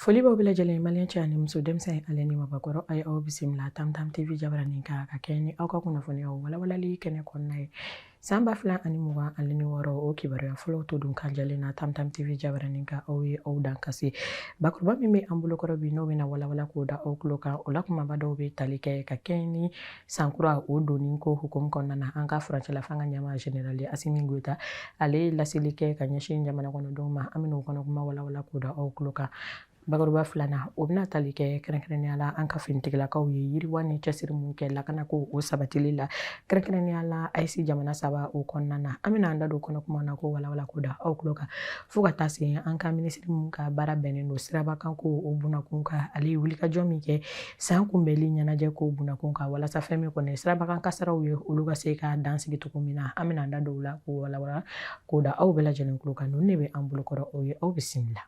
foli b'aw bɛɛ lajɛlen maliyɛn cɛ ani muso denmisɛn ale ni mabakɔrɔ a ye aw bisimila tamtam tv jabaranin kan ka kɛɲɛ ni aw ka kunnafoniyaw walawalali kɛnɛ kɔnɔna ye san ba fila ani mugan ani ni wɔɔrɔ o kibaruya fɔlɔw to dun kan jɛlen na tamtam tv jabaranin kan aw ye aw dan kasi bakuruba min bɛ an bolokɔrɔ bi n'o bɛna walawala k'o da aw tulo kan o la kumaba dɔw bɛ tali kɛ ka kɛɲɛ ni sankura o donni ko hukumu kɔnɔna na an ka furancɛla fanga ɲɛmaa generali asimi goyita ale ye laseli kɛ ka ɲɛsin jamana kɔnɔdenw ma an bɛna o kɔnɔ kuma walawala k'o da aw tulo kan bakuruba filanan o bɛna tali kɛ kɛrɛnkɛrɛnnenya la an ka finitigilakaw ye yiriwa ni cɛsiri min kɛ lakana ko o sabatili la kɛrɛnkɛrɛnnenya la AES jamana saba o kɔnɔna na an bɛna an da don kɔnɔ kuma na k'o walawala k'o da aw tulo kan fo ka taa se an ka minisiri min ka baara bɛnnen don sirabakan ko o bunakun kan ale ye wulikajɔ min kɛ san kunbɛnli ɲɛnajɛ kow bunakun kan walasa fɛn min kɔni sirabakan kasaraw ye olu ka se ka dan sigi cogo min na an bɛna an da don o la k'o walawala k'o da aw bɛɛ lajɛlen tulo kan ninnu de bɛ an bolokɔrɔ o ye aw bisimila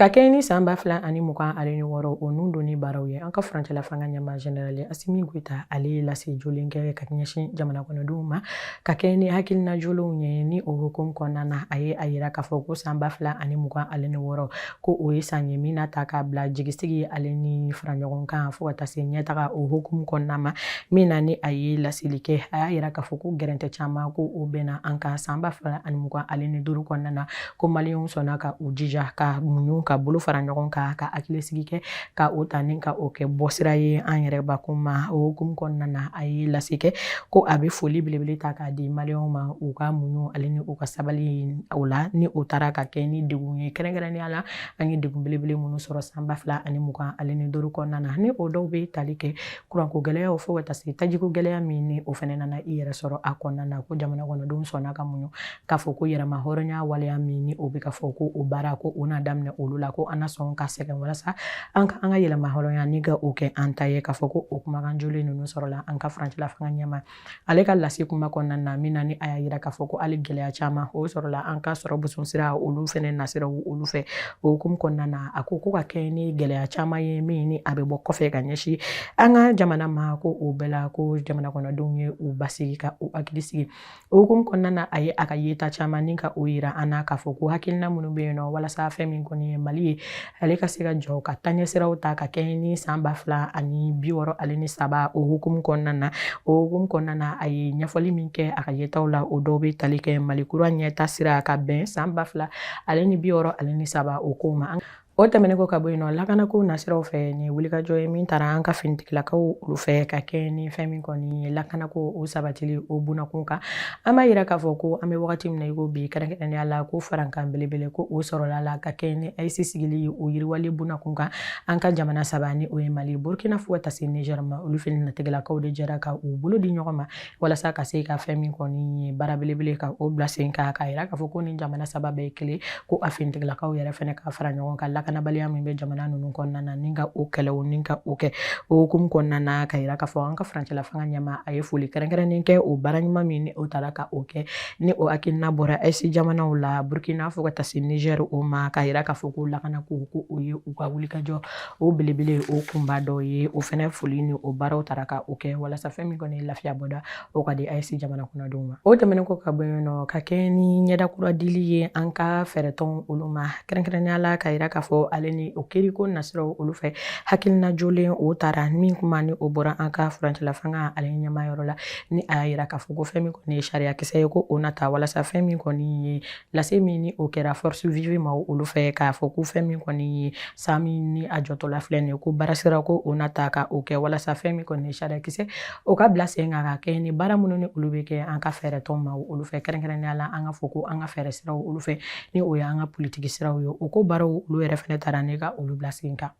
Ka kɛɲɛ ni san ba fila ani mugan ani wɔɔrɔ o nun donni baaraw ye an ka furancɛla fanga ɲɛmaa generali asimi goyita ale ye lase jolen kɛ ka ɲɛsin jamana kɔnɔdenw ma ka kɛɲɛ ni hakilina jolenw ye ni o hukumu kɔnɔna na a ye a yira k'a fɔ ko san ba fila ani mugan ani wɔɔrɔ ko o ye san ye min na ta k'a bila jigisigi ale ni fara ɲɔgɔn kan fo ka taa se ɲɛtaga o hukumu kɔnɔna ma min na ni a ye laseli kɛ a y'a yira k'a fɔ ko gɛrɛntɛ caman ko o bɛnna an kan san ba fila ani mugan ale ni duuru kɔnɔna na ko maliyɛnw sɔnna ka u jija ka muɲu ka bolo fara ɲɔgɔn kan ka hakilisigi kɛ ka o ta ni ka o kɛ bɔsira ye an yɛrɛ bakun ma o hukumu kɔnɔna na a ye lase kɛ ko a bɛ foli belebele ta k'a di maliyɛnw ma u ka muɲu ale ni u ka sabali o la ni o taara ka kɛ ni degun ye kɛrɛnkɛrɛnnenya la an ye degun belebele minnu sɔrɔ san ba fila ani mugan ale ni duuru kɔnɔna na ni o dɔw bɛ tali kɛ kuranko gɛlɛyaw fo ka taa se tajiko gɛlɛya min ni o fana nana i yɛrɛ sɔrɔ a kɔnɔna na ko jamana kɔnɔdenw sɔnna ka muɲu k'a fɔ ko yɛrɛma hɔrɔnya waleya min ni o bɛ ka fɔ ko o baara ko o n'a daminɛ olu la ko an na sɔn ka sɛgɛn walasa an ka an ka yɛrɛma hɔrɔnya ni ka o kɛ an ta ye k'a fɔ ko o kumakan jolen ninnu sɔrɔla an ka furancɛla fanga ɲɛmaa ale ka lase kuma kɔnɔna na min na ni a y'a yira k'a fɔ ko hali gɛlɛya caman o sɔrɔla an ka sɔrɔ boson sira olu fɛnɛ nasira olu fɛ o hukumu kɔnɔna na a ko ko ka kɛ ni gɛlɛya caman ye min ni a bɛ bɔ kɔfɛ ka ɲɛsin an ka jamana ma ko o bɛɛ la ko jamana kɔnɔdenw ye u basigi ka u hakili sigi O hukumu kɔnɔna na a ye a ka yeta caman ni ka o yira an na k'a fɔ ko hakilina minnu bɛ yen nɔ walasa fɛn min kɔni ye mali ye ale ka se ka jɔ ka taɲɛsiraw ta ka kɛɲɛ ni san ba fila ani bi wɔɔrɔ ale ni saba o hukumu kɔnɔna na o hukumu kɔnɔna na a ye ɲɛfɔli min kɛ a ka yetaw la o dɔw bɛ tali kɛ mali kura ɲɛtaa sira ka bɛn san ba fila ale ni bi wɔɔrɔ ale ni saba o ko ma O tɛmɛnen kɔ ka bɔ yen nɔ lakanako nasiraw fɛ nin ye wulikajɔ ye min tara an ka finitigilakaw olu fɛ ka kɛ ni fɛn min kɔni ye lakanako o sabatili o bunakun kan an b'a yira k'a fɔ ko an bɛ wagati min na i ko bi kɛrɛnkɛrɛnnenya la ko farankan belebele ko o sɔrɔla la ka kɛ ni AES sigili ye o yiriwali bunakun kan an ka jamana saba ni o ye mali burkina fo ka taa se nizɛri ma olu finitigilakaw de jɛra ka u bolo di ɲɔgɔn ma walasa ka se ka fɛn min kɔni ye baara belebele ka o bila sen kan k'a yira k'a fɔ ko nin jamana saba bɛɛ ye kelen ko a finitigilakaw yɛrɛ fɛnɛ ka fara ɲɔgɔn kan lakanabaliya min bɛ jamana ninnu kɔnɔna na ni ka o kɛlɛ o ni ka o kɛ o hukumu kɔnɔna na ka yira k'a fɔ an ka furancɛla fanga ɲɛmaa a ye foli kɛrɛnkɛrɛnnen kɛ o baara ɲuman min ni o tara ka o kɛ ni o hakilina bɔra AES jamanaw la burkina fo ka taa se nizɛri o ma k'a yira k'a fɔ ko lakanako ko o ye u ka wulikajɔ o belebele o kunba dɔ ye o fɛnɛ foli ni o baaraw tara ka o kɛ walasa fɛn min kɔni ye lafiya bɔda o ka di AES jamana kɔnɔdenw ma o tɛmɛnen kɔ ka bɔ yen nɔ ka kɛ ni ɲɛda kura dili ye an ka fɛɛrɛtɔn olu ma kɛrɛnkɛrɛnnenya la ka yira k'a fɔ ale ni o kiriko nasiraw olu fɛ hakilina jolen o tara min kuma ni o bɔra an ka furancɛla fanga ale ɲɛmaayɔrɔ la ni a y'a yira k'a fɔ ko fɛn min kɔni ye sariyakisɛ ye ko o na ta walasa fɛn min kɔni ye lase min ni o kɛra force vive ma olu fɛ k'a fɔ ko fɛn min kɔni ye san min ni a jɔtɔla filɛ nin ye ko baarasira ko o na ta ka o kɛ walasa fɛn min kɔni ye sariyakisɛ o ka bila sen kan ka kɛ ni baara minnu ni olu bɛ kɛ an ka fɛɛrɛtɔn ma olu fɛ kɛrɛnkɛrɛnnenya la an ka fɔ ko an ka fɛɛrɛ siraw olu fɛ ni o y'an ka politiki siraw ye o ko baaraw olu yɛrɛ fɛnɛ tara ni ka olu bila sen kan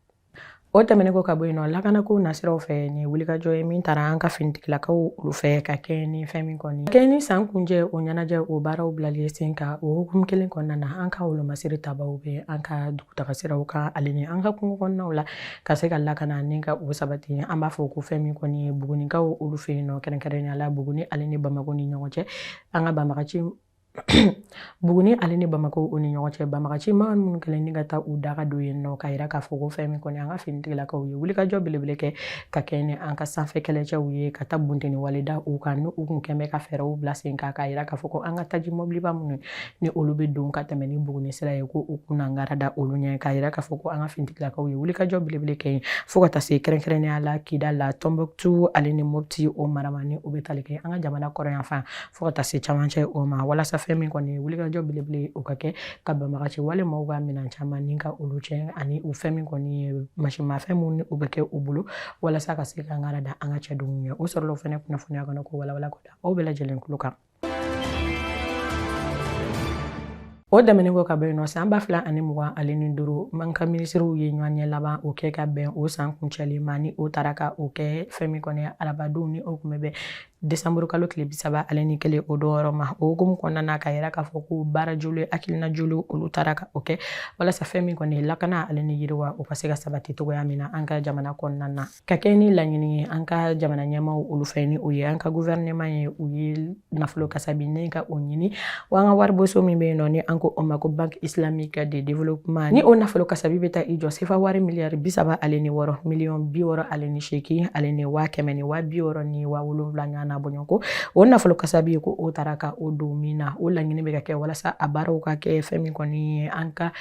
o tɛmɛnen kɔ ka bɔ yen nɔ lakanako nasiraw fɛ nin ye wulikajɔ ye min tara an ka finitigilakaw olu fɛ ka kɛɲɛ ni fɛn min kɔni kɛɲɛ ni san kuncɛ o ɲɛnajɛ o baaraw bilali sen kan o hukumu kelen kɔnɔna na an ka wolomasiri tabaw bɛ an ka dugutagasiraw kan ale ni an ka kungo kɔnɔnaw la ka se ka lakana ni ka o sabati an b'a fɔ ko fɛn min kɔni ye bugunikaw olu fɛ yen nɔ kɛrɛnkɛrɛnnenya la buguni ale ni bamako ni ɲɔgɔn cɛ an ka banbagaci buguni ale ni bamako o ni ɲɔgɔn cɛ banbagaci maa minnu kɛlen ni ka taa u daga don yen nɔ ka yira k'a fɔ ko fɛn min kɔni an ka finitigilakaw ye wulikajɔ belebele kɛ ka kɛ ni an ka sanfɛ kɛlɛcɛw ye ka taa bunteni wale da u kan ni u kun bɛ ka fɛɛrɛw bila sen kan k'a yira k'a fɔ ko an ka taji mɔbiliba minnu ni olu bɛ don ka tɛmɛ ni buguni sira ye ko u kun na ngara da olu ɲɛ k'a yira k'a fɔ ko an ka finitigilakaw ye wulikajɔ belebele kɛ yen fo ka taa se kɛrɛnkɛrɛnnenya la kidal tombouctou ale ni mopti o mara ma ni u bɛ tali kɛ an ka jamana kɔrɔnyanfan fo ka taa se camancɛ o ma walasa fɛn min kɔni wulikajɔ belebele o ka kɛ ka banbagaci wale maaw ka minan caman ni ka olu tiɲɛ ani u fɛn min kɔni ye masimafɛn minnu ni u bɛ kɛ u bolo walasa ka se ka ngara da an ka cɛdenw ɲɛ o sɔrɔla o fɛnɛ kunnafoniya kɔnɔ k'o walawala k'o da aw bɛɛ lajɛlen tulo kan o tɛmɛnen kɔ ka bɔ yen nɔ san ba fila ani mugan ale ni duuru ma an ka minisiriw ye ɲɔgɔnye laban o kɛ ka bɛn o san kuncɛli ma ni o tara ka o kɛ fɛn min kɔni arabadonw ni o kun bɛ bɛn desanburu kalo tile bi saba ale ni kelen o don yɔrɔ ma o hukumu kɔnɔna na ka yira k'a fɔ ko baara joli hakilina joli olu tara ka o kɛ walasa fɛn min kɔni lakana ale ni yiriwa o ka se ka sabati cogoya min na an ka jamana kɔnɔna na ka kɛ ni laɲini ye an ka jamana ɲɛmaw olu fɛ ni o ye an ka guvɛrɛnɛman ye u ye nafolo kasabi ni ka o ɲini Wa an ka wariboso min bɛ yen nɔ ni an ko o ma ko banque islamique de développement ni o nafolo kasabi bɛ taa i jɔ sefa wari miliyari bi saba ale ni wɔɔrɔ miliyɔn bi wɔɔrɔ ale ni seegin ale ni waa kɛmɛ ni waa bi wɔɔrɔ ni waa wolonwula ɲɔgɔn na bɔɲɔgɔn ko o nafolo kasabi ye ko o tara ka o don min na o laɲini bɛ ka kɛ walasa a baaraw ka kɛ fɛn min kɔni ye an ka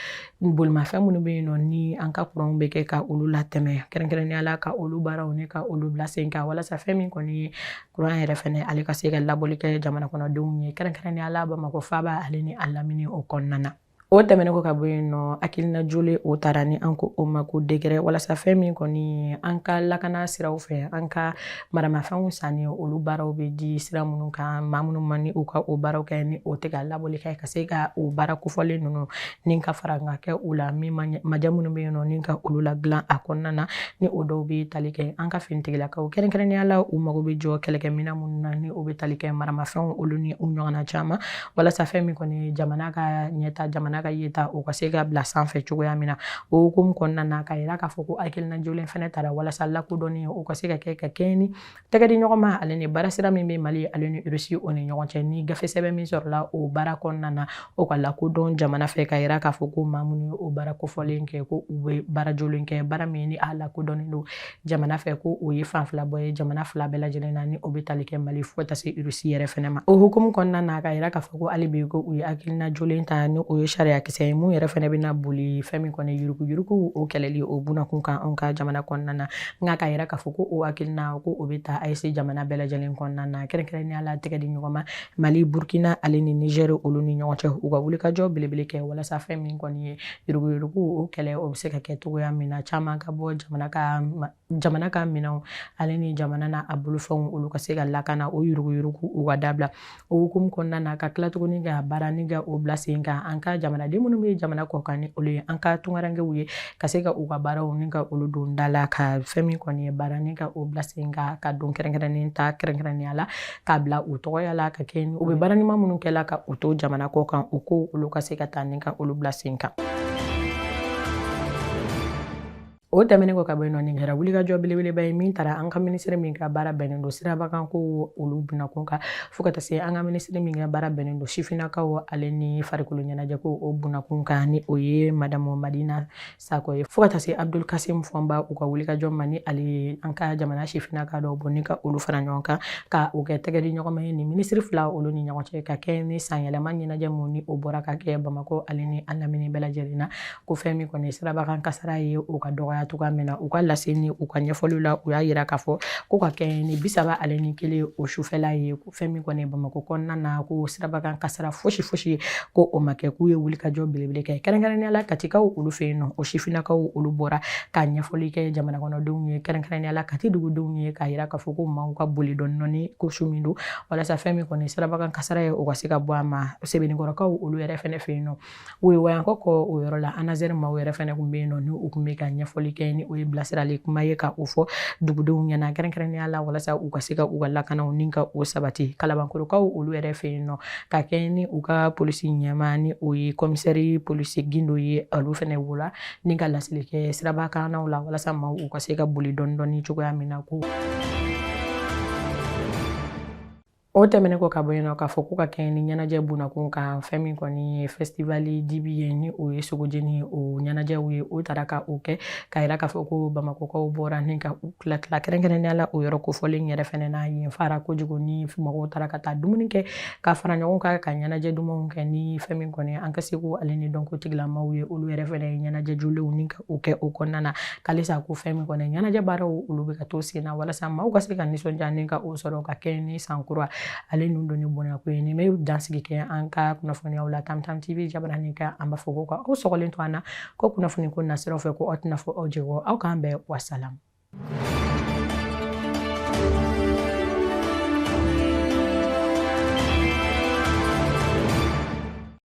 bolimafɛn minnu bɛ yen nɔ ni an ka kuranw bɛ kɛ ka olu latɛmɛ kɛrɛnkɛrɛnnenya la ka olu baaraw ni ka olu bila sen kan walasa fɛn min kɔni ye kuran yɛrɛ fɛnɛ ale ka se ka labɔli kɛ jamana kɔnɔdenw ye kɛrɛnkɛrɛnnenya la bamakɔ faaba ale ni a lamini o kɔnɔna na o tɛmɛnen kɔ ka bɔ yen nɔ hakilina jolen o tara ni an ko o ma ko dekɛrɛ walasa fɛn min kɔni an ka lakana siraw fɛ an ka maramafɛnw sanni olu baaraw bɛ di sira minnu kan maa minnu ma ni u ka o baaraw kɛ ni o tɛ ka labɔli kɛ ka se ka o baara kofɔlen ninnu ni ka fara ka kɛ u la min maja minnu bɛ yen nɔ ni ka olu ladilan a kɔnɔna na ni o dɔw bɛ tali kɛ an ka finitigilakaw kɛrɛnkɛrɛnnenya la u mago bɛ jɔ kɛlɛkɛminɛn minnu na ni o bɛ tali kɛ maramafɛnw olu ni u ɲɔgɔnna caman walasa fɛn min kɔni jamana ka ɲɛtaa jamana ka yɛrɛta o ka se ka bila sanfɛ cogoya min na o hukumu kɔnɔna na ka yira k'a fɔ ko hakilina jolen fana tara walasa lakodɔnni o ka se ka kɛ ka kɛɲɛ ni tɛgɛ di ɲɔgɔn ma ale ni baara sira min bɛ mali ale ni irisi o ni ɲɔgɔn cɛ ni gafe sɛbɛn min sɔrɔla o baara kɔnɔna na o ka lakodɔn jamana fɛ ka yira k'a fɔ ko maa minnu ye o baara kofɔlen kɛ ko u bɛ baara jolen kɛ baara min ni a lakodɔnnen don jamana fɛ ko o ye fan fila bɔ ye jamana fila bɛɛ lajɛlen na ni o bɛ tali kɛ mali fo ka taa se irisi yɛrɛ fana ma o hukumu kɔnɔna na ka yira k'a fɔ ko hali bi ko u ye hakilina jolen ta ni o ye sariyakisɛ ye min yɛrɛ fana bɛna boli fɛn min kɔni yuruguyurugu o kɛlɛli o bunakun kan anw ka jamana kɔnɔna na nka ka yira k'a fɔ ko o hakilina ko o bɛ ta AES jamana bɛɛ lajɛlen kɔnɔna na kɛrɛnkɛrɛnnenya la tɛgɛ di ɲɔgɔn ma mali burkina ale ni niger olu ni ɲɔgɔn cɛ u ka wulikajɔ belebele kɛ walasa fɛn min kɔni ye yuruguyurugu o kɛlɛ o bɛ se ka kɛ cogoya min na caman ka bɔ jamana ka minɛnw ale ni jamana na a bolofɛnw olu ka se ka lakana o yuruguyurugu u ka dabila o hukumu kɔnɔna na ka tila tuguni ka baara ni ka o bila sen kan an ka jamanaden minnu bɛ jamana kɔkan ni olu ye an ka tunkarankew ye ka se ka u ka baaraw ni ka olu don da la ka fɛn min kɔni ye baara ni ka o bila sen kan ka don kɛrɛnkɛrɛnnen ta kɛrɛnkɛrɛnnenya la k'a bila u tɔgɔya la ka kɛ u bɛ baara ɲuman minnu kɛ la ka u to jamana kɔkan u ko olu ka se ka taa ni ka olu bila sen kan O tɛmɛnen kɔ ka bɔ yen nɔ nin kɛra wulikajɔ belebeleba ye min taara an ka minisiri min ka baara bɛnnen don sirabakan ko olu bunakun kan fo ka taa se an ka minisiri min ka baara bɛnnen don sifinnakaw ale ni farikolo ɲɛnajɛ ko o bunakun kan ni o ye madamu madina sakɔ ye fo ka taa se abdul kasim fɔnba u ka wulikajɔ ma ni ale ye an ka jamana sifinnaka dɔw bɔ ni ka olu fara ɲɔgɔn kan ka o kɛ tɛgɛ di ɲɔgɔn ma ye ni minisiri fila olu ni ɲɔgɔn cɛ ka kɛ ni sanyɛlɛma ɲɛnajɛ mun ni o bɔra ka kɛ bamakɔ ale ni a lamini bɛɛ lajɛlen na ko fɛn min kɔni sirabakan kasara ye o ka dɔgɔya cogoya min na u ka lase ni u ka ɲɛfɔliw la u y'a yira k'a fɔ ko ka kɛ ni bi saba ale ni kelen o sufɛla ye ko fɛn min kɔni bamakɔ kɔnɔna na ko sirabakan kasara fosi fosi ko o ma kɛ k'u ye wulikajɔ belebele kɛ kɛrɛnkɛrɛnnenya la katikaw olu fɛ yen nɔ o sifinnakaw olu bɔra ka ɲɛfɔli kɛ jamana kɔnɔdenw ye kɛrɛnkɛrɛnnenya la kati dugudenw ye k'a yira k'a fɔ ko maaw ka boli dɔɔni dɔɔni ko su min don walasa fɛn min kɔni sirabakan kasara ye o ka se ka bɔ a ma sebenikɔrɔkaw olu yɛrɛ fɛnɛ fɛ yen nɔ woyowayankɔ kɔ o yɔrɔ la anazɛri maaw yɛrɛ fɛnɛ kun bɛ yen nɔ ni u kun bɛ ka ɲɛfɔli kɛ ni o ye bilasirali kuma ye ka o fɔ dugudenw ɲɛna kɛrɛnkɛrɛnnenya la walasa u ka se ka u ka lakanaw ni ka o sabati kalabankɔrɔkaw olu yɛrɛ fɛ yen nɔ ka kɛ ni u ka polisi ɲɛmaa ni o ye kɔmisɛri polisi gindo ye olu fɛnɛ wulila ni ka laseli kɛ siraba kannaw la walasa maaw u ka se ka boli dɔɔni dɔɔni cogoya min na ko O tɛmɛnen kɔ ka bɔ yen nɔ k'a fɔ ko ka kɛɲɛ ni ɲɛnajɛ bunakun kan fɛn min kɔni ye fɛstivali dibi ye ni o ye sogojeni o ɲɛnajɛw ye o taara ka o kɛ k'a yira k'a fɔ ko bamakɔkaw bɔra ni ka u tila tila kɛrɛnkɛrɛnnenya la o yɔrɔ kofɔlen yɛrɛ fɛnɛ na yen fara kojugu ni mɔgɔw taara ka taa dumuni kɛ ka fara ɲɔgɔn kan ka ɲɛnajɛ dumanw kɛ ni fɛn min kɔni an ka seko ale ni dɔnko tigilamaw ye olu yɛrɛ fɛnɛ ye ɲɛnajɛ jolenw ni ka o kɛ o kɔnɔna na k'alisa ko fɛn min kɔni ɲɛnajɛ baaraw olu bɛ ka to sen na walasa maaw ka se ka nisɔndiya ni ka o sɔrɔ ka kɛ ni san kura ale ni o don ni bonya ko ye nin bɛ dansigi kɛ an ka kunnafoniyaw la tamtam tv jabaranin kan an b'a fɔ ko ka aw sɔgɔlen to an na ko kunnafoni ko nasiraw fɛ ko a tɛna fɔ aw jɛgɔ aw k'an bɛn wasalamu